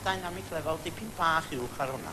dynamic level dipyn bach uwch ar hwnna.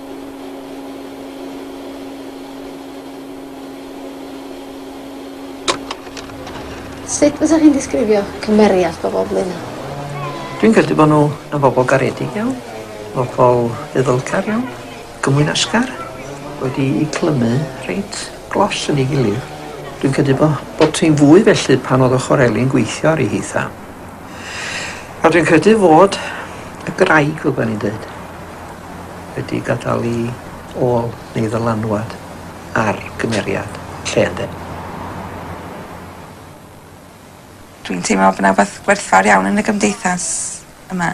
Sut fysa chi'n disgrifio cymeriad bobol Blaenau? Dwi'n credu bod nhw yn bobl garedig iawn, bobl ddiddylgar iawn, gymwynasgar, wedi i clymu reit glos yn ei gilydd. Dwi'n credu bod bod ti'n fwy felly pan oedd ochr Eli'n gweithio ar ei hitha. A dwi'n credu fod y graig, fel bod ni'n dweud, wedi gadael i ôl neu ddylanwad ar gymeriad lle ynde? Dwi'n teimlo bod 'na wbath gwerthfawr iawn yn y gymdeithas yma.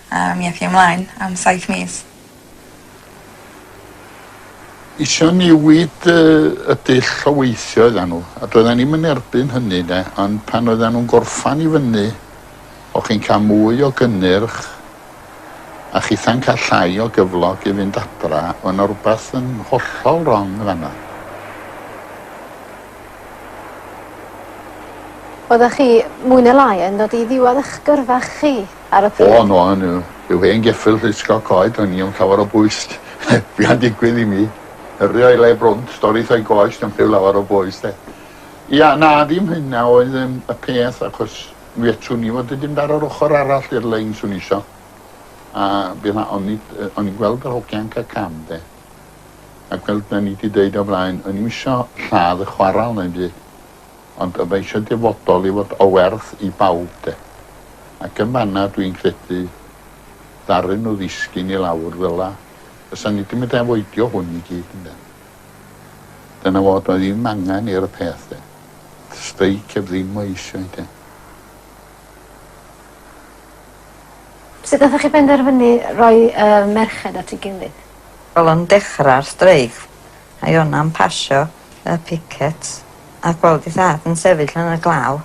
A mi ath hi ymlaen am saith mis. Isio newid y dull o weithio oeddan nhw, a doeddan ni'm yn erbyn hynny 'de, ond pan oeddan nhw'n gorffan i fyny, o'ch chi'n cael mwy o gynnyrch, a chitha'n cael llai o gyflog i fynd adra, o' 'na rwbath yn hollol rong yn fan'na. Oeddach chi, mwy ne' lai, yn dod i ddiwadd 'ych gyrfa chi. ar y pryd. O no o'n n'w rhyw hen geffyl llusgo coed o'n i am llawer o bwys be am digwydd i mi yrru o'i le brwnt dorri tho'i goes na'm rhyw lawer o bwys de. Ia na ddim hynna oedd yym y peth achos mi fedrwn i fod yn mynd ar yr ochor arall i'r lein swn isio a bydd a- o'n i yy o'n i'n gweld yr hogia'n ca' cam de a gweld o'n i di deud o flaen o'n i'm isio lladd y chwaral na'm byd. Ond mae eisiau dyfodol i fod o werth i bawb de. Ac yn fanna dwi'n credu ddaru nhw ddisgyn i lawr fela. Fysan ni di mynd afoidio hwn i gyd ynde. Dyna fo doedd ddim angen i'r peth de. Streic heb ddim o eisiau de. Sut nathoch chi benderfynu roi y merched at ei gilydd? Wel o'n dechrau'r streic a i wna'm pasio. a picet a gweld ei thad yn sefyll yn y glaw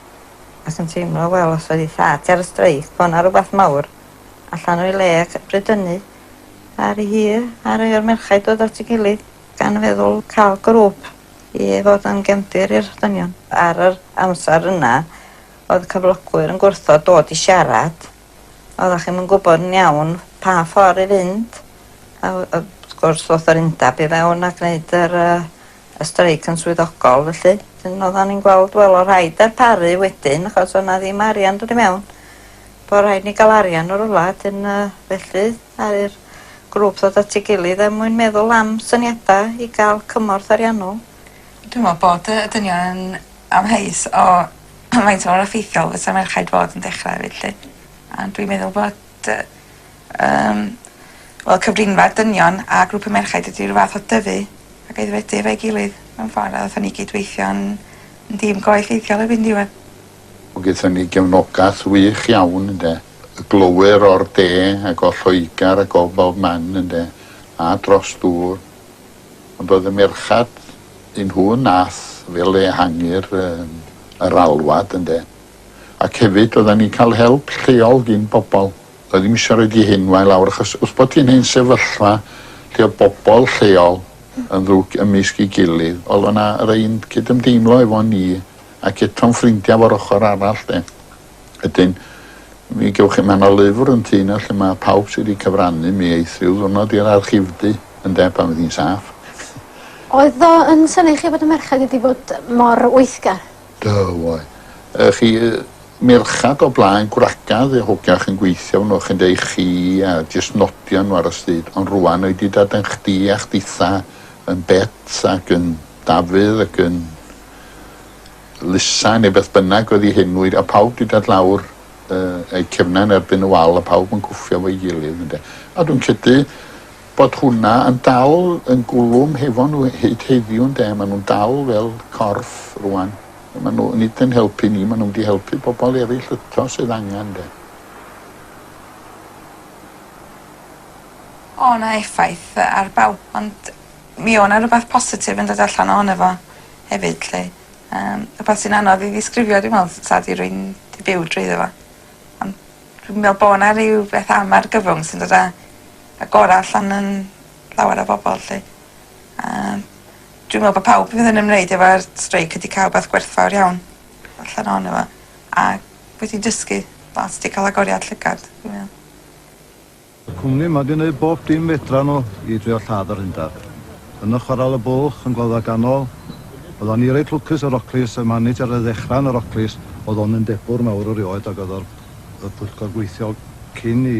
ac yn teimlo wel os oedd ei thad ger y streic bo' 'na rwbath mawr allan o'i le ac bryd hynny aru hi a rei o'r merchaid dod at ei gilydd gan feddwl ca'l grŵp i fod yn gefndir i'r dynion. Ar yr amser yna oedd cyflogwyr yn gwrthod dod i siarad oeddach chi'm yn gwybod yn iawn pa ffordd i fynd a wrth gwrs ddoth yr undeb i fewn a gwneud yr yy y streic yn swyddogol felly. Wedyn oeddan ni'n gweld wel o' rhaid darparu wedyn achos o' 'na ddim arian dod i mewn. Bo' rhaid ni ga'l arian o rwla 'dyn yy felly aru'r grŵp ddod at ei gilydd er mwyn meddwl am syniada i ga'l cymorth ariannol. Dwi me'wl bod y y dynion yn Amheus o faint mor effeithiol fysa merchaid fod yn dechra efyd 'lly. A dwi'n meddwl bod yy yym wel cyfrinfa dynion a grŵp y merchaid ydi ryw fath o dyfu ac aeddfedu efo'i gilydd mewn ffor a ddathan ni gydweithio'n yn dîm go effeithiol erbyn diwedd. O gethon ni gefnogath wych iawn ynde. Y glowyr o'r de ag o Lloegar ag o bob man ynde? A dros ddŵr. Ond oedd y merchad, un nhw nath fel ehangu'r yym yr alwad ynde? Ac hefyd oeddan ni'n cael help lleol gin bobl. Oedd ddim isio roid i hyn wae lawr achos wrth bod hi'n hen sefyllfa lle oedd bobl lleol yn ddrwg ymysg ei gilydd oedd o'na yr un cydymdeimlo efo ni ac eto'n ffrindia fo'r ochr arall de. Wedyn mi gewch chi man o lyfr yn tŷ 'na lle ma' pawb sy 'di cyfrannu mi eith ryw ddwrnod i'r archifdy ynde pan fydd hi'n saff. Oedd o yn synnu chi bod y merched wedi bod mor weithgar? Do oedd. Yy chi yy merchad o blaen gwragedd neu hogach yn gweithio arno chi ynde i chi a jyst nodio n'w ar y stryd ond rŵan o'i di dod yn chdi a chditha yn Bet ac yn Dafydd ac yn Lisa, neu beth bynnag oedd ei henw, a pawb 'di dod lawr eu cefnau yn erbyn y wal a pawb yn cwffio efo'i gilydd ynde. A dwi'n credu bod hwnna yn dal yn gwlwm hefo nhw hyd heddiw ynde. Maen nhw'n dal fel corff rŵan. Maen nhw nid yn helpu ni, maen nhw'n mynd i helpu pobl eraill eto sydd angen ynde. O' 'na effaith ar bawb ond mi o' 'na rwbath positif yn dod allan ohono fo. hefyd 'lly. Yym rwbath sy'n anodd i ddisgrifio dwi me'wl t- sad i rywun 'di byw drwyddo fo. On' dwi'n me'wl bo' 'na ryw beth am argyfwng sy'n dod â y gora' allan yn llawer o bobol 'lly. A dwi'n me'wl bo' pawb fydd yn ymwneud efo'r streic wedi ca'l wbath gwerthfawr iawn allan ohono fo a wedi dysgu lot 'di ca'l agoriad llygad dwi'n me'wl. Y cwmni yma 'di neud bob dim fedran nhw i drio lladd yr hundaf. Yn y Chwarel y Bwlch, yn Gloddfa Ganol, oeddan ni reit lwcus ar Roclys, y manager ar ddechra yn y Roclys oedd o'n undebwr mawr erioed ag oedd o'r y pwyllgor gweithiol cyn i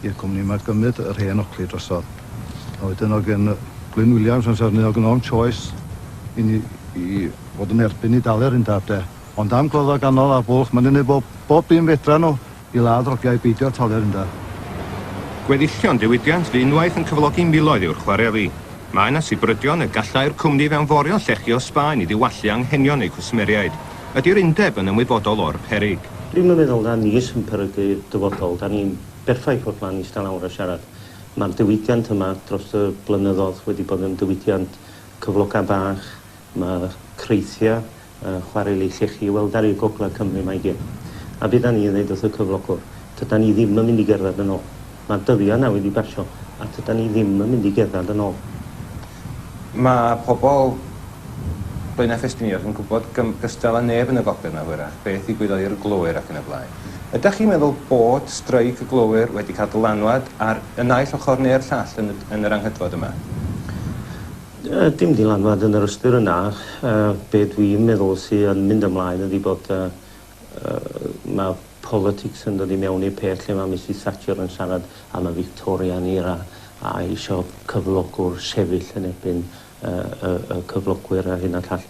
i'r cwmni yma gymryd yr hen Ocley drosodd. A wedyn oedd gen Glyn Williams amser hynny oedd gynno fo'm choice i ni i fod yn erbyn i dalu'r undaf de. Ond am Gloddfa Ganol a'r Bwlch, ma' nhw'n neud bob bob dim fedran nhw I ladd rogiau beidio talu'r ynda. Gweddillion diwydiant fu unwaith yn cyflogi miloedd i'wr chwareli. Mae yna sibrydion y gallai'r cwmni fewnforio llechi o Sbaen i ddiwallu anghenion eu cwsmeriaid. Ydi'r undeb yn ymwybodol o'r perig? Dwi'm yn meddwl na ni sy'n perygu'r dyfodol, 'da ni'n berffaith fod 'ma'n ista lawr a siarad. Mae'r diwydiant yma dros y blynyddodd wedi bod yn diwydiant cyfloga bach, mae creithia Yy, chwarel i chi chi weld ar i'r gogledd Cymru mae gin. A be da ni yn ddeud wrth y cyflogwr? Tydan ni ddim yn mynd i gerdded yn ôl. Mae dyddiau nawr wedi basio a tydan ni ddim yn mynd i gerdded yn ôl. Mae pobl Blaenau Ffestiniog yn gwybod gym gystal â neb yn y gogledd na hwyrach beth ddigwyddodd i'r glowyr ac yn y blaen. Ydach chi'n meddwl bod streic y glowyr wedi cael dylanwad ar y naill ochr neu'r llall yn y yn yr anghydfod yma? Yy dim dylanwad yn yr ystyr yna. Yy be' dwi'n meddwl sy yn mynd ymlaen ydi bod yy yy ma' politics yn dod i mewn i'r peth lle ma' Misus Thatcher yn siarad am y Victorian era a isio cyflogwr sefyll yn erbyn yy y y cyflogwyr a'r hyn a'r llall.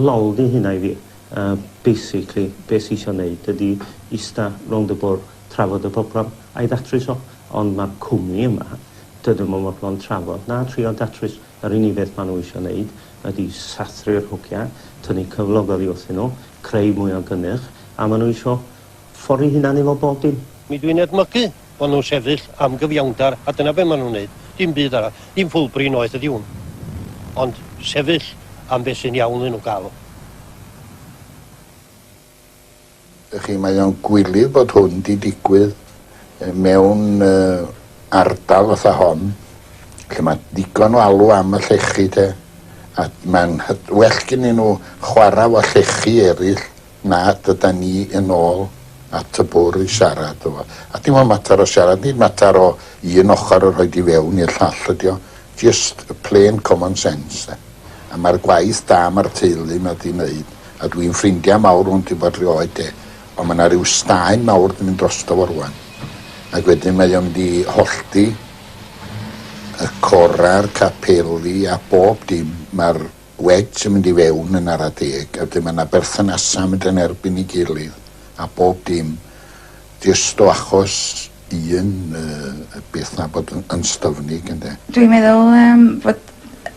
Lol 'di hynna i fi. Yy basically be' sy isio neud ydi ista rownd y bwrdd trafod y problem a'i ddatrys o, ond mae'r cwmni yma, dydyn nhw'm yn fodlon trafod na trio datrys, yr unig beth maen nhw eisiau wneud ydi sathru'r hogia, tynnu cyflog oddi wrthyn nhw, creu mwy o gynnyrch, a maen nhw eisiau ffori hunan efo bob dim. Mi dwi'n edmygu fo' nhw'n sefyll am gyfiawnder a dyna be' maen nhw'n wneud, dim byd arall, ddim ffwlbri noeth ydi hwn, ond sefyll am be' sy'n iawn iddyn nhw gael o. Dych chi, mae o'n gwilydd bod hwn 'di digwydd mewn ardal fatha hon, lle ma' digon o alw am y llechi, 'te, a ma'n hyf- well gynnyn nhw chwarae efo llechi eraill na dod â ni yn ôl at y bwrdd i siarad efo. A dim ond mater o siarad, nid mater o un ochr a rhoid i fewn i'r llall ydi o. Jyst plain common sense 'de. A mae'r gwaith da mae'r teulu 'ma 'di neud, a dwi'n ffrindia mawr hwn ti bod rioed 'de, ond mae 'na ryw staen mawr 'di mynd drosto fo rwan, ac wedyn mae o mynd i hollti y cora'r capeli a bob dim, mae'r wedge yn mynd i fewn yn ara deg, a wedyn mae 'na berthynasa mynd yn erbyn i gilydd a bob dim, jyst o achos un beth na bod yn styfnig ynde. Dwi'n meddwl yym fod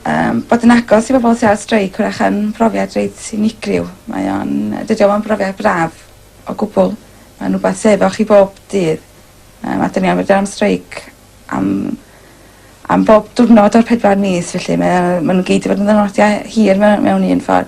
yym bod yn agos i bobol sy ar streic wrach yn brofiad reit unigryw mae o'n yy dydi o'm yn brofiad braf o gwbwl ma'n wbath sy efo chi bob dydd yym a 'dyn ni am fod am streic am am bob diwrnod o'r pedwar mis felly mae o ma' n'w gyd 'di bod yn ddiwrnodia hir me- mewn un ffor.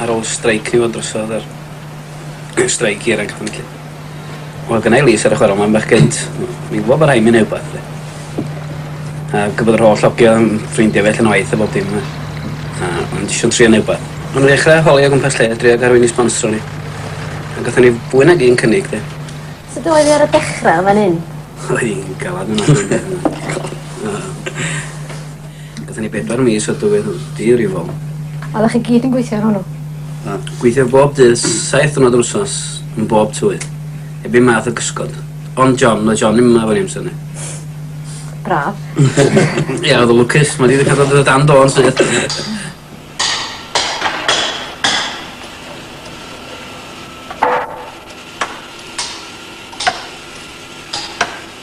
Ar ôl streic ni fod drosodd yr streic i'r anghyfnillu. Wel, gynnau Lys ar y chwarel mae'n bach gynt. Mi'n gwybod bod rhaid mynd neu wbath. A gwbod yr holl ogia yn ffrindia fi allan o waith a bob dim a a o'n js isio trio neu' wbath. O'n i ddechra holi o gwmpas lle drio ga'l rywun i sbonsro ni. A gathon ni fwy nag un cynnig 'de. Sud oedd 'i ar y dechra yn fan 'yn? Oedd 'i'n galad ofnadwy. Gathon ni bedwar mis o dywydd diyriwol. Oeddech chi gyd yn gweithio ar hwnnw? Na. Gweithio bob dydd, saith dwrnod yr wsnos, yn bob tywydd. Heb un math o gysgod. Ond John, oedd John ddim yma efo ni amser 'ny. Braf. Ia, oedd o'n lwcus. Mae 'di ddechra dod o dan do yn syth.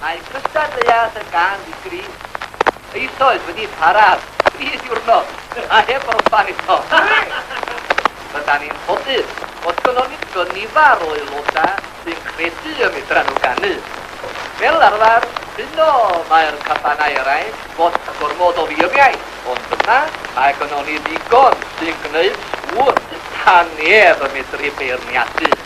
Mae cystadleuaeth y gân ddi-grug eisoes wedi para am dri diwrnod a heb orffen eto. Rydan ni'n ffodus fod gynnon ni gynifer o aelodau sy'n credu y medran nhw ganu. Fel arfer, yno mae'r cabanau eraill fod gormod o ddiriau, ond yna mae gynnon ni ddigon sy'n gwneud siŵr 'sa neb yn medru beirniadu.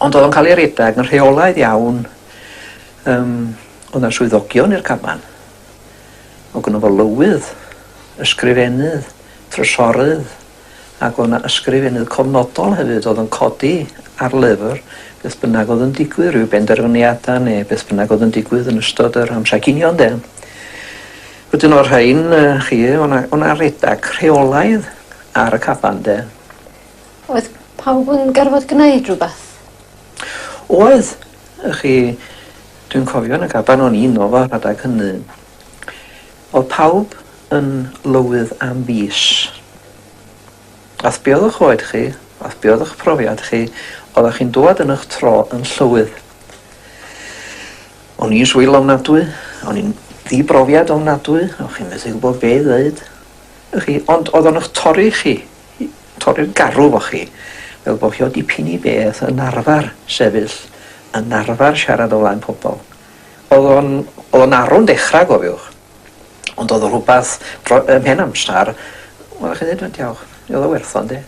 Ond oedd o'n cael ei redeg yn rheolaidd iawn. Um, oedd yna swyddogion i'r caban. O gynnaf fo lywydd, ysgrifennydd, trysorydd, ac oedd yna ysgrifennydd cofnodol hefyd oedd yn codi ar lyfr beth bynnag oedd yn digwydd, rhyw benderfyniadau neu beth bynnag oedd yn digwydd yn ystod yr amser cinio de. Wedyn o'r rhain, uh, chi, o'na, o'na redag rheolaidd ar y caban de. Oedd pawb yn gorfod gwneud rhywbeth? Oedd. Y'ch chi, dwi'n cofio yn y gaban o'n i'n o fo rhadeg hynny. Oedd pawb yn lywydd am fis. Ath be' oedd 'ych oed chi, ath be' oedd 'ych profiad chi, oeddech chi'n dŵad yn 'ych tro yn llywydd. O'n i'n swil ofnadwy, o'n i'n ddibrofiad ofnadwy, o'ch chi'n methu gwybod be' i ddeud. Y'ch chi, ond oedd o'n 'ych torri chi. i torri'r garw efo chi, fel bod chi o dipyn i beth yn arfer sefyll, yn arfer siarad o flaen pobl. Oedd o'n, oedd o'n arw'n dechrau, gofiwch. Ond oedd o rhywbeth, dro, ym mhen amser, wel, chi'n dweud, diolch, oedd o werth o'n de.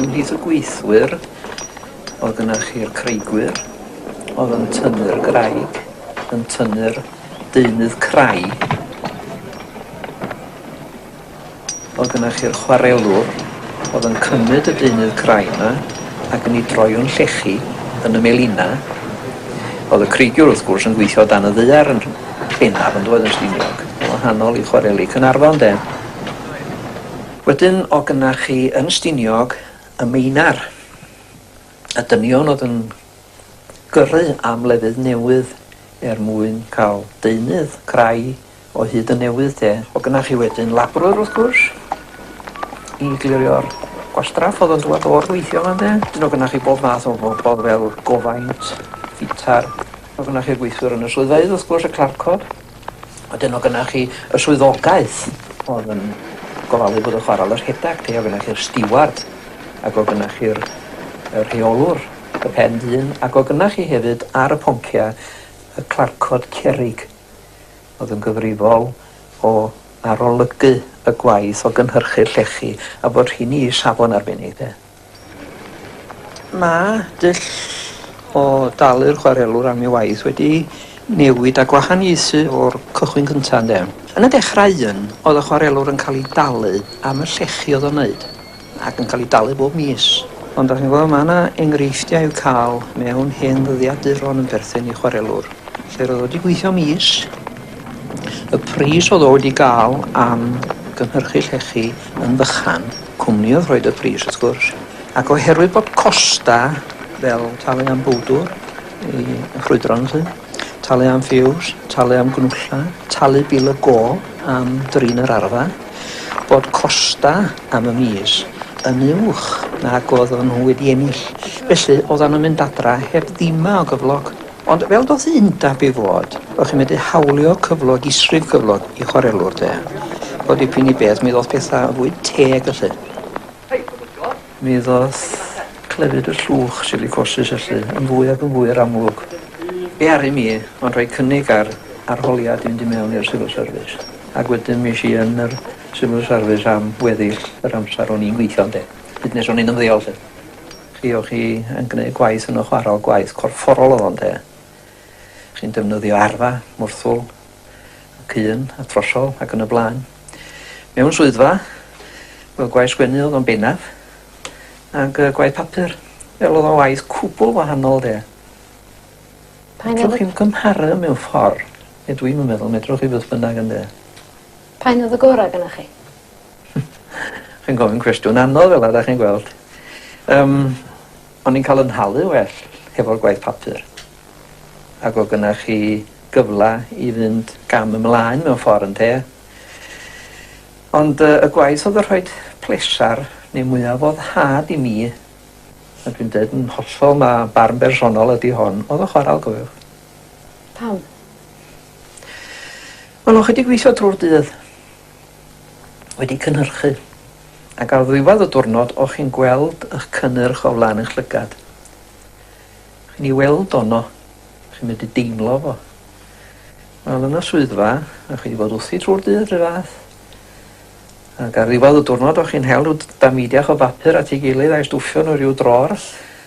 ymhlith y gweithwyr oedd yna chi'r creigwyr oedd yn tynnu'r graig, yn tynnu'r deunydd crai O'dd gynnoch chi'r chwarelwr o'dd yn cymryd y deunydd crai 'ma ac yn 'i droi o'n llechi yn y melinau. O'dd y creigiwr wrth gwrs yn gweithio o dan y ddaear yn bennaf yn doedd yn Stiniog. Yn wahanol i chwareli Caernarfon 'de. Wedyn o' gynnoch chi yn Stiniog y meinar. Y dynion o'dd yn gyrru am lefydd newydd er mwyn ca'l deunydd crai O hyd y newydd de. O gynna chi wedyn labrwr wrth gwrs i glirio'r gwastraff o'dd yn dŵad o'r gweithio yma ynde? Dyn o gynna chi bob math o bobol fel gofaint, ffitar, o gynna chi'r gweithwyr yn y swyddfeydd wrth gwrs y clarcod. A dyn o gynna chi y swyddogaeth o'dd yn gofalu bod y chwaral y rhedag de o gynna chi'r stiward ac o gynna chi'r y rheolwr y pen dyn ac o gynna chi hefyd ar y poncia y clarcod cerrig. oedd yn gyfrifol o arolygu y gwaith o gynhyrchu'r llechi a bod rheini i safon arbennig de. Mae dull o dalu'r chwarelwr am ei waith wedi newid a gwahaniaethu o'r cychwyn cyntaf ynde? Yn y dechrau un, oedd y chwarelwr yn cael ei dalu am y llechi oedd o'n wneud. ac yn cael eu dalu bob mis. Ond dach chi'n gweld, mae yna enghreifftiau i'w cael mewn hen ddyddiaduron yn perthyn i chwarelwr, lle roedd o wedi gweithio mis, y pris oedd o wedi gael am gynhyrchu llechi yn fychan, cwmni oedd rhoed y pris wrth gwrs, ac oherwydd bod costa fel talu am bowdwr i ffrwydron 'lly, Talu am ffiws, talu am gnwlla, talu bil y gôl am drin yr arfa, bod costa am y mis yn uwch nag oedd o'n nhw wedi ennill. Felly, oeddan nhw'n mynd adra heb ddima o gyflog. Ond fel doth y undab i fod, o'ch chi'n medru hawlio cyflog, isrif cyflog i chwarelwr, de. O dipyn i beth, mi ddoth pethau yn fwy teg, felly. Mi ddoth clefyd y llwch silicosis felly yn fwy ac yn fwy i'r amlwg. Be aru mi ond rhoi cynnig ar arholiad i fynd i mewn i'r Civil Service ac wedyn mi es i yn yr Civil Service am weddill yr amser o'n i'n gweithio ynde? Hyd nes o'n i'n ymddeol 'lly. Chi o' chi yn gneud gwaith yn y chwarel, gwaith corfforol o'dd o ynde? Chi'n defnyddio arfa, mwrthwl, ac un a throsol ac yn y blaen. Mewn swyddfa, wel gwaith sgwennu oedd o'n bennaf, ac uh, gwaith papur. Fel oedd o'n waith cwbl wahanol de. Pa un oedd chi'n cymharu mewn ffordd, neu e dwi'n meddwl, medrwch chi beth bynnag yn dweud. Pa un oedd y gorau gyda chi? chi'n gofyn cwestiwn anodd fel yna, chi'n gweld. Um, o'n i'n cael yn halu well hefo'r gwaith papur. ac oedd gynnach chi gyfle i fynd gam ymlaen mewn ffordd ynte? Ond y gwaith oedd yn rhoi plesar neu mwyaf foddhad i mi, a dwi'n dweud yn hollol mae barn bersonol ydy hon, oedd yn chwarae golwg. Pam? Wel, o'ch wedi gweithio drwy'r dydd, wedi cynhyrchu, ac ar ddiwedd y diwrnod o'ch chi'n gweld eich cynnyrch o flaen eich llygad. Chi'n ei weld o 'no. Chi'n medru deimlo fo. Wel yn y swyddfa, a chi 'di bod wrthi trwy'r dydd rhyw fath. Ac ar ddiwedd y diwrnod o'ch chi'n hel rhyw damidiach o bapur at ei gilydd a'i stwffio nhw rhyw drôr,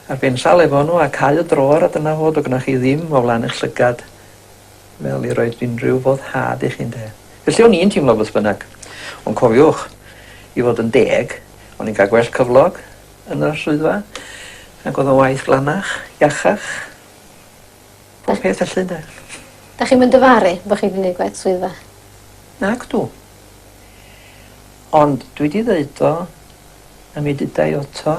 a'r bensal efo nhw, a cau y drôr a dyna fo, do' gynnoch chi ddim o flaen eich llygad fel i roid unrhyw foddhad i chi ynde. Felly o'n i'n teimlo beth bynnag. Ond cofiwch, i fod yn deg, o'n i'n cael gwell cyflog, yn yr swyddfa ag o'dd y waith glanach, iachach, pob peth felly ynde. Dach chi'm yn dyfaru bo' chi 'di neud gwaith swyddfa? Nagdw. Ond dwi 'di ddeud o a mi deda i oto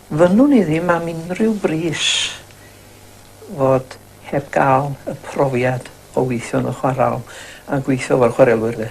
fynnwn i ddim am unrhyw bris fod heb gael y profiad o weithio yn y chwarel a gweithio efo'r chwarelwyr de.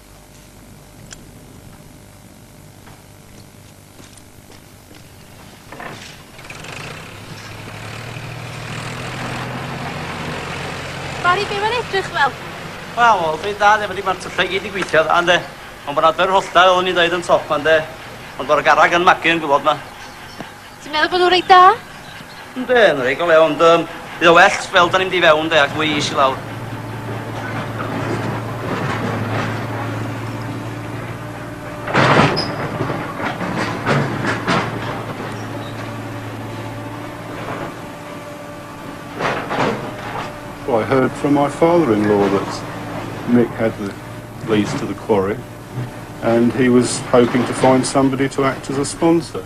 Bari, be mae'n edrych fel? Wel, oedd ei dda, efo di mae'r tyllau gyd i gweithio, dda, ynddo. Ond bod adfer hollta, oedd ni'n dweud yn top, ynddo. Ond bod y garag yn magu yn gwybod ma. Ti'n meddwl bod nhw'n reit da? Ynddi, yn rhaid o le, ond um, bydd o well fel da ni'n mynd i fewn de, ac fwy is i lawr. Well, I heard from my father-in-law that Mick had the lease to the quarry and he was hoping to find somebody to act as a sponsor.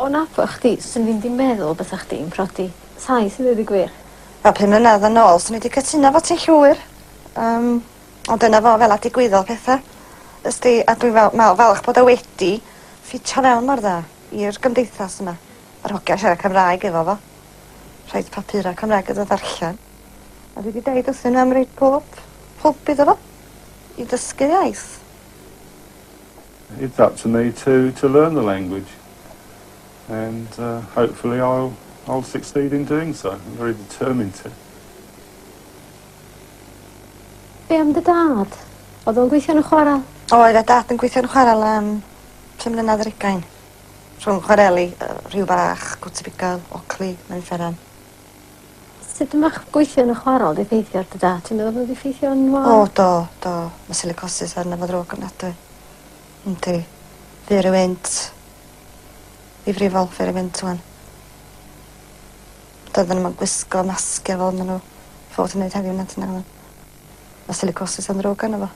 O nabod chdi swn i ddim 'di meddwl bysa chdi'n prodi taith i ddeud y gwir. Wel pum mlynedd yn ôl swn i 'di cytuno efo ti llwyr yym ond dyna fo fel 'a digwyddodd petha. Wsd ti a dwi'n fal- me'wl falch bod o wedi ffitio fewn mor dda i'r gymdeithas yma. Yr hogia siarad Cymraeg efo fo. Rhoid papura Cymraeg iddo ddarllen. A dwi 'di deud wrthyn n'w am roi pob hwb iddo fo i dysgu iaith. It's up to me to to learn the language and uh, hopefully I'll, I'll succeed in doing so. I'm very determined to. Be am dy dad? Oedd o'n gweithio yn y chwarel? Oedd a dad yn gweithio yn y chwarel am pum mlynedd ar ugain. Rhwng chwareli, uh, rhyw bach, gwtibigol, ocli, mae'n fferan. Sut ma' ch- gweithio yn y chwarel 'di effeithio ar dy dad? Ti'n meddwl bod o 'di effeithio arno fo? O do do. Ma' silicosis arno fo ddrwg ofnadwy. Yndi. Dwi ry wynt i frifo fi ry wynt ŵan. Doedden nw'm yn gwisgo masgia fel ma' n'w fod yn neud heddiw nacdyn nag oddan? Ma' silicosis yn ddrwg arno fo.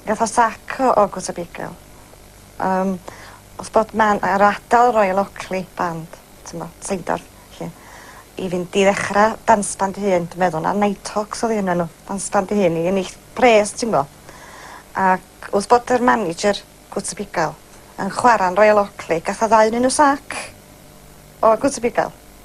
Gatho sac o August Abigail. Yym wrth bod man ar adal Royal Oakley band t'mo' Seindorf 'lly i fynd i ddechra dance band 'i hun dwi meddwl na Nighthawks odd un o n'w dance band 'i hun i ennill pres ti'ngo'. Ac wrth bod yr manager August Abigail yn chwara'n Royal Oakley gath o ddau 'nyn n'w sac o August Abigail.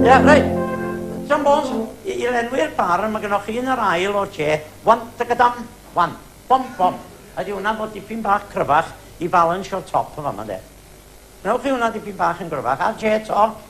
Ia, reit. John Bones, i, i lenwi'r barn, mae gennych chi yn yr ail o'r che, wan, tygadam, wan, bom, bom. Ydy hwnna'n bod dipyn bach cryfach i balansio'r top yn fama, de. Gwnewch chi hwnna dipyn bach yn gryfach, a'r che to,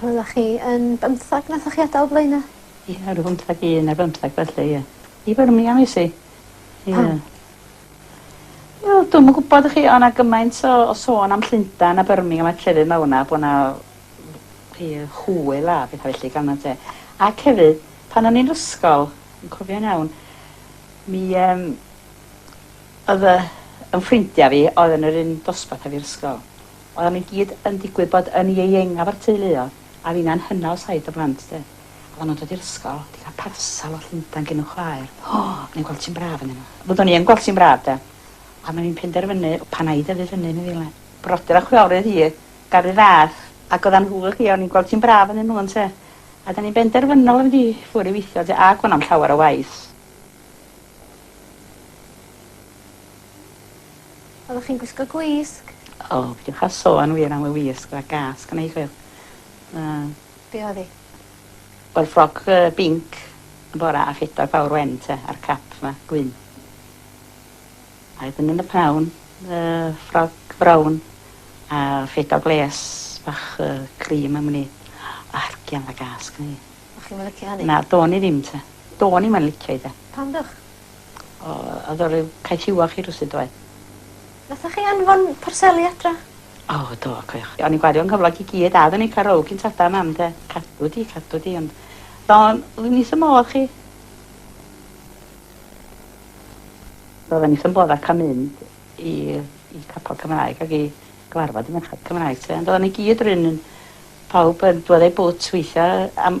Roeddach chi yn bymthag nathoch chi adael Blaena'? Ia rw bymthag un ne' bymthag felly ia. I Birmingham es i. Ia. Pam? Wel dwi'm yn gwbod y'chi o' 'na gymaint o o sôn am Llundan a Birmingham a llefydd mawr 'na bo' 'na w- chi hwyl a petha felly gan y te. Ac hefyd pan o'n i'n 'r ysgol yn cofio'n iawn mi yym odd y 'yn ffrindia fi oedd yn yr un dosbarth a fi 'r ysgol Oeddan nhw i gyd yn digwydd bod yn ieuengaf o'r teulu o, a finna'n hynna o saith o blant 'de. Oeddan nhw'n dod i'r ysgol, 'di cael parsel o Llundain gin y chwaer. O! O'n i'n gweld ti'n braf ynddyn nhw. Fyddwn i yn gweld ti'n braf 'de. Ond o'n i'n penderfynu, pan a'i dyfu fyny, meddylia i. Brodyr a chwiorydd hi, garu ddad. Ac oeddan nhw hi, o'n i'n gweld ti'n braf ynddyn nhw ynte. A 'dan ni'n benderfynol o fynd i ffwr' i weithio 'de, a gwnna'm llawer o waith. Oddach chi'n gwisgo gwisg? O, peidiwch â sôn wir am y wisg, oedd 'na gas gynna' i chwil. Yy. Be' oedd 'i? Wel ffrog yy binc yn bora a phedwar pawr wen te a'r cap 'ma gwyn. A wedyn yn y pnawn yy ffrog frown a phedwar gwlês bach yy cream am wn i. O hergian o'dd 'na gas gynna' i. O'ch chi'm yn licio hynny? Na, do'n i ddim te. Do'n i'm yn licio 'i de. Pam dwch? O, oedd o ryw Caets Iwach i rywsut doedd? Nathoch chi anfon parseli adra? O, do, cofiwch. O'n i'n gwario'n nghyflog i gyd a odden ni'n ca'l row gin tada a mam de. Cadw di, cadw di ond do'n i wrth 'y modd chi. Roedden ni wrth 'yn bodd â ca'l mynd i i capel Cymraeg ag i gyfarfod y merched Cymraeg 'te ond odden ni gyd run un pawb yn dwad â'i bwt weithia' am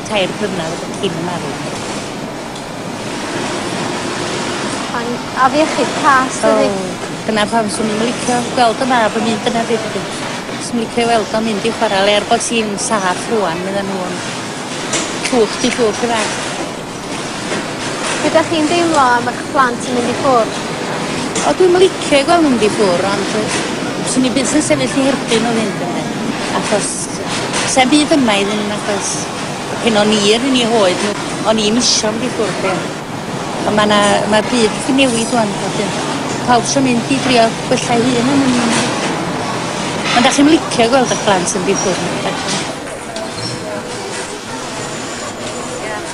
tair blynedd cyn y marw. Mae'n afiechyd cas, dydi? Oh, dyna pam swn i'n licio gweld y mab yn mynd yna beth ydw. Swn i'n licio weld o'n mynd i chwarae le er bod hi'n saff rwan, meddyn nhw yn cwch di cwch yna. Ydych chi'n deimlo am eich plant yn mynd i ffwrdd? O, dwi'n licio gweld nhw'n mynd i ffwrdd, ond swn i'n byth yn sefyll i herbyn o fynd yna. Achos Sa'm byd yma iddyn nhw nagos. A pen o'n i yr un i hoed nhw, o'n i'm isio mynd i ffwrdd de. Ond mae 'na mae'r byd wedi newid rwan wedyn. Pawb sy'n mynd i drio gwella ei hun yn un. Ond da chi'n licio gweld eich blant yn mynd i ffwrdd?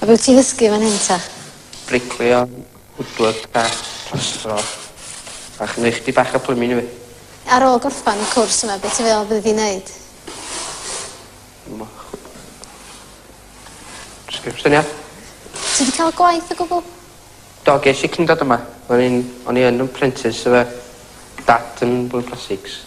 A be wyt ti'n ddysgu fan hyn ta? Briclio, woodwork craft, plastro. A chymryd chdi bach o plymin i fi. Ar ôl gorffan y cwrs yma be ti'n feddwl bydd di'n neud? Jyst gweud syniad. Ti wedi cael gwaith o gwbl? Do ges i cyn dod yma. O'n i'n o'n i yn yn prentis efo dad yn bwyd plastics.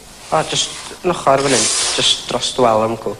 O jyst yn ochor fan 'yn. Jyst dros dy wal wncwl.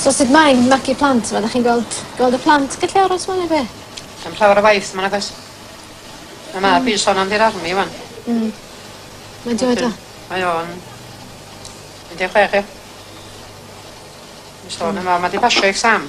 So sut mae'n magu plant fel 'dach chi'n gweld gweld y plant gallu aros 'ma ne' be'? Dim llawer o waith ma' 'na does? Ma' mab fi sôn am 'di'r army ŵan. Hmm. Mae'n joio do? Mae o'n un de' chwech ia? Mae'n sôn am o ma' 'di pasio exam.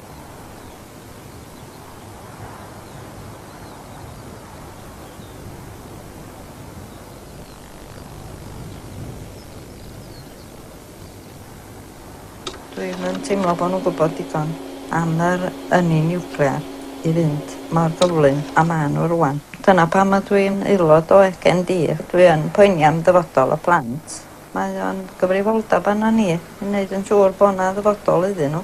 Dwi'm yn teimlo bod nhw'n gwybod digon am yr ynni niwclear i fynd mor gyflym â maen nhw rŵan. Dyna pam ydw i'n aelod o ECND. Dwi yn poeni am ddyfodol y plant. Mae o'n gyfrifoldeb arnon ni i wneud yn siŵr bod 'na ddyfodol iddyn nhw.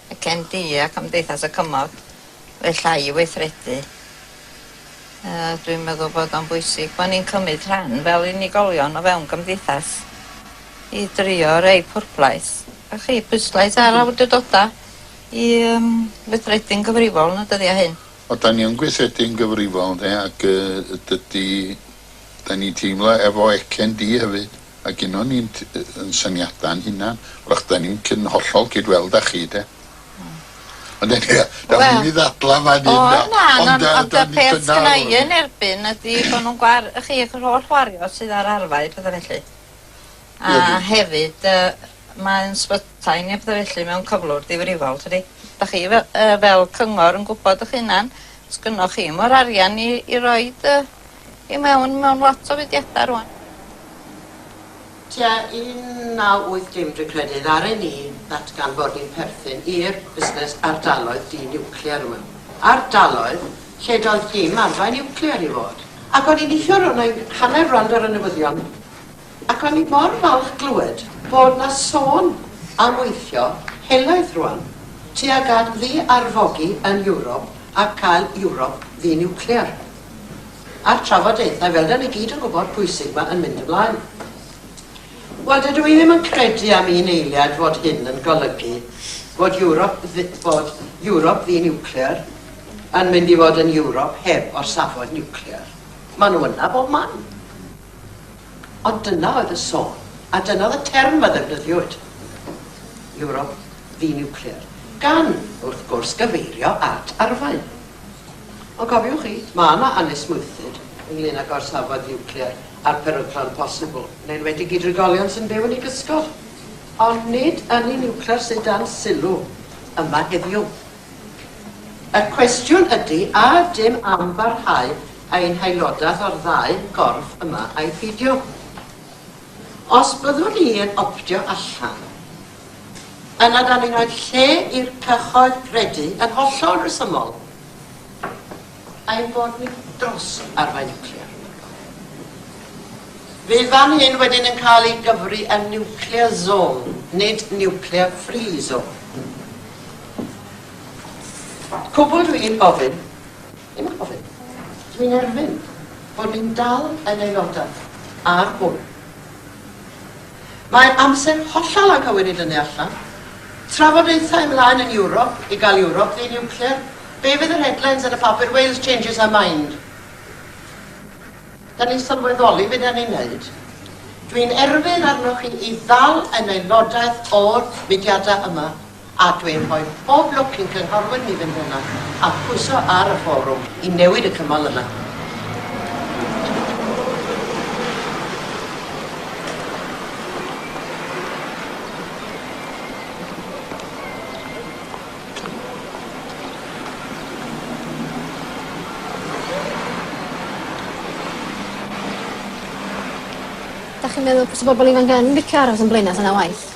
y CND a Cymdeithas y Cymoedd wella i weithredu. Dwi'n meddwl bod o'n bwysig bod ni'n cymryd rhan fel unigolion o fewn gymdeithas i drio rei pwrplais a chi pwyslais ar awdurdodau i yym weithredu'n gyfrifol yn y dyddiau hyn. O, 'da ni yn gweithredu'n gyfrifol, ynde, ac yy dydy... 'da ni'n teimlo efo y CND hefyd. Mae gennon ni yn syniadau yn hunan, wrach da ni'n cyn hollol cyd weld â chi de. Ond eniwe, da ni'n mynd i ddadla fan hyn. O na, ond y peth sgynna i yn erbyn ydy bod nhw'n gwar, y chi, yr holl wario sydd ar arfau, pethau felly. A hefyd, mae'n sbytai ni a pethau felly mewn cyflwr difrifol, tydi? Da chi fel cyngor yn gwybod ych hunan, sgynnoch chi mor arian i roed y i mewn mewn lot o fudiadau rŵan. Tua 1980 dwi'n credu ddaru ni ddatganfod ni'n perthyn i'r busnes ardaloedd di-niwclear yma. Ardaloedd lle doedd dim arfau niwclear i fod. Ac o'n i'n neithiwr, o' 'na hanner rownd ar y newyddion, ac o'n i mor falch glywed bod 'na sôn am weithio helaeth rŵan tuag at ddi-arfogi yn Ewrop a cael Ewrop ddi-niwclear. a'r trafodaethau, fel 'da ni gyd yn gwybod, pwysig 'ma yn mynd ymlaen. Wel, dydw i ddim yn credu am un eiliad fod hyn yn golygu bod Ewrop, bod Ewrop ddi-niwclear yn mynd i fod yn Ewrop heb orsafod niwclear. Maen nhw yna bob man. Ond dyna oedd y sôn, a dyna oedd y term a ddefnyddiwyd, Ewrop ddi-niwclear, gan, wrth gwrs, gyfeirio at arfau. Ond cofiwch chi, mae yna anesmwythyd ynglŷn â gorsafod niwclear a'r peryglon posibl, yn enwedig i drigolion sy'n byw yn ei gysgod. Ond nid ynni niwclear sydd dan sylw yma heddiw. Y cwestiwn ydy a ydym am barhau ein haelodaeth o'r ddau gorff yma ai pheidio. Os byddwn ni yn optio allan, Yna dan ni'n rhoi lle i'r cyhoedd gredu yn hollol resymol ein bod ni dros arfau niwclear. Fydd fan hyn wedyn yn cael ei gyfri yn nuclear zone, nid nuclear free zone. Cwbl dwi'n gofyn, ddim yn gofyn, dwi'n erfyn bod ni'n dal yn aelodau ar hwn. Mae amser hollol anghywir i dynnu allan. Trafodaethau ymlaen yn Ewrop i gael Ewrop ddi-niwclear. Be fydd yr headlines yn y papur Wales changes her mind? Da ni'n sylweddoli be da ni'n neud. Dwi'n erfyn arnoch chi i ddal yn aelodaeth o'r mudiadau yma A dwi'n rhoi pob lwc i'n cynghorwyr ni fynd yna a phwyso ar y fforwm i newid y cymal yna. Dach chi'n meddwl bysa bobol ifanc yn licio aros yn Blaenau ta na waeth?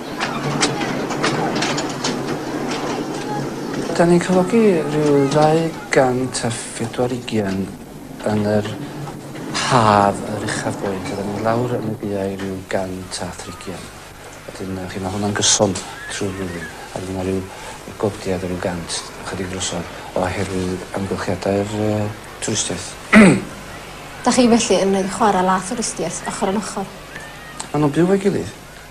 'Dan ni'n cyflogi ryw ddau gant a phedwar ugian yn yr haf yr uchaf boed a 'dan ni lawr yn y gaeau ryw gant a thrigian wedyn yy chi ma' hwnna'n gyson trw'r flwyddyn a wedyn ma' ryw yy godiad o ryw gant ychydig drosodd oherwydd amgylchiadau'r yy twristiaeth. 'Dach chi felly yn neud chwara la thwristiaeth ochor yn ochor? Ma' nw'n byw efo'i gilydd.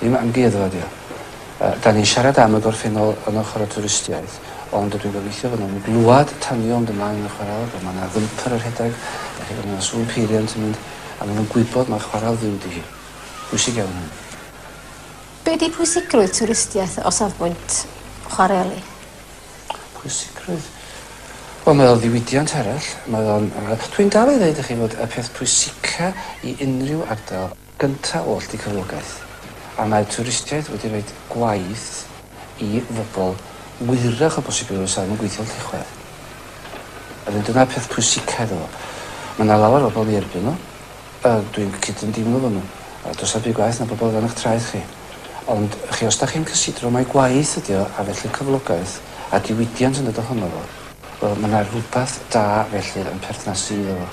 Dim amgueddfa ydi o. Yy 'dan ni'n siarad am y gorffennol yn ochor y twristiaeth ond ydw i'n gobeithio fy' nw'n glwad tanio ond yma yn y chwarel bo' ma' 'na fymper a rhedeg dach chi'n gwbo ma' 'na sŵn peiriant yn mynd a ma' nw'n gwybod ma' chwarel fyw 'di hi. Pwysig iawn hynny. Be' 'di pwysigrwydd twristiaeth o safbwynt chwareli? Pwysigrwydd? Wel mae o ddiwydiant arall mae o'n yy dwi'n dal i ddeud i chi fod y peth pwysica i unrhyw ardal gyntaf oll i cyflogaeth, a mae twristiaeth wedi rhoi gwaith i fobl wyrach o bosib i rywun sydd ddim yn gweithio'n Llechwedd. A wedyn dyna'r peth pwysica iddo fo. Mae yna lawer o bobl yn ei erbyn nhw, a dwi'n cydymdeimlo efo nhw. A does 'na ddim byd gwaeth na pobl o dan eich traed chi. Ond, chi, os dach chi'n cysidro mai gwaith ydi o, a felly cyflogaeth, a diwydiant yn dod ohono fo, wel, mae 'na rywbeth da felly yn perthnasu iddo fo.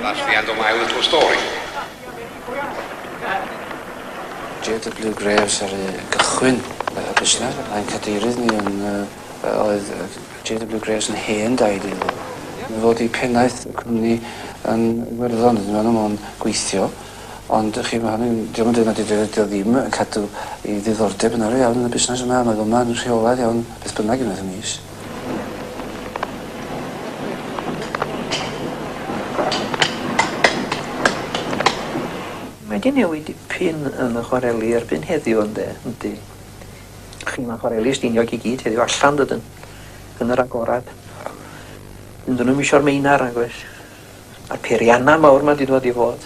That's the end of my little story. JW Graves ar ei gychwyn y busnes, a'n cadeirydd ni yn, uh, oedd JW Graves yn hen daid iddo. Yn fod i pennaeth y cwmni yn Iwerddon, ydyn nhw'n gweithio. Ond y'ch chi ma' hynny'n... 'di o'm yn deud na 'di dy- 'di o ddim yn cadw 'i ddiddordeb yn arian iawn yn y busnes yma a mae o yma yn rheolaidd iawn beth bynnag unwaith y mis. Mae 'di newid dipyn yn y chwareli erbyn heddiw ynde? Yndi. Chi ma' chwareli Stiniog i gyd heddiw allan dydyn? Yn yr agorad. Dydyn nw'm isio'r meinar nag oes? Ma'r peirianna mawr 'ma 'di dod i fod.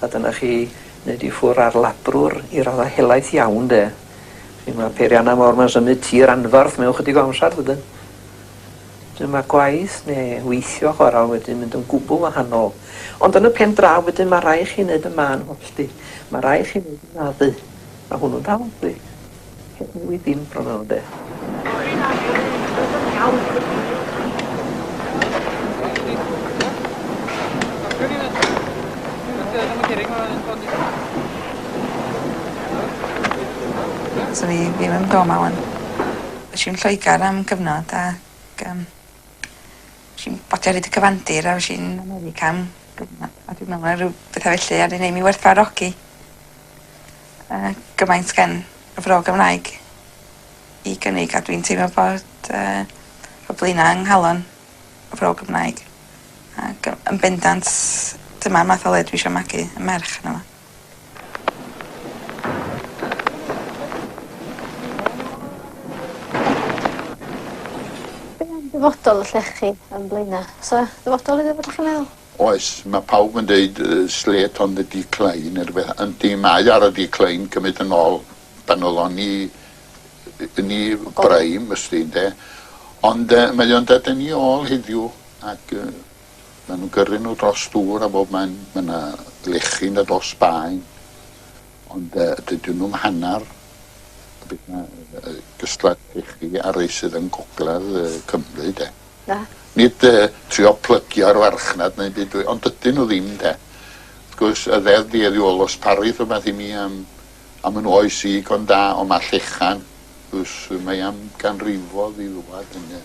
A dyna chi, neu di ffwr ar labrwr i radda helaeth iawn 'de. Chi ma'r peirianna mawr 'ma'n symud tir anfarth mewn chydig o amsar dydyn? Wedyn ma' gwaith ne' weithio chwaral wedyn mynd yn gwbwl wahanol. Ond yn y pen draw wedyn ma' rai' chi neud y mân hollti. Ma' rai' chi neud y naddu. Ma' hwnnw'n dal yndi? Wi ddim proud de. Swn i ddim yn byw yma ŵan. Esh i yn Lloegar am gyfnod ac yym esh i'n bacio ryd y cyfandir a esh i'n America am gyfnod a dwi'n me'wl ma' ryw betha fellu a 'di neu' mi werthfawrogi yy gymaint gen y Fro Gymraeg i gynnig a dwi'n teimlo bod yy y Blaenau yng nghalon y Fro Gymraeg ac yy yn bendant dyma'r math o le dwi isio magu 'yn merch yno fo. Be' am dyfodol y llechi yn Blaena'? O's 'a ddyfodol iddo fo 'dych chi'n meddwl? Oes, mae pawb yn deud Slate on the decline neu rhywbeth. Yndi, mae ar y decline cymryd yn ol pan oedd o'n i yn i brime ysdi ynde. Ond yy mae o'n dod yn i ol heddiw ac yy ma' nhw'n gyrru nhw dros dŵr a bob man. Ma' 'na lechi yn dod o Sbaen ond yy dydyn nhw'm hannar beth ma' yy gystlad llechi a rei sydd yn gogledd yy Cymru de. Na. Nid yy trio plygio'r farchnad neu'm byd dwi ond dydyn nhw ddim 'de. Wrth gwrs y ddeddf dueddi ôl os parith rhywbeth i mi am am yn oes i go da ond ma' llechan wrs mae am ganrifodd i ddwad ynde.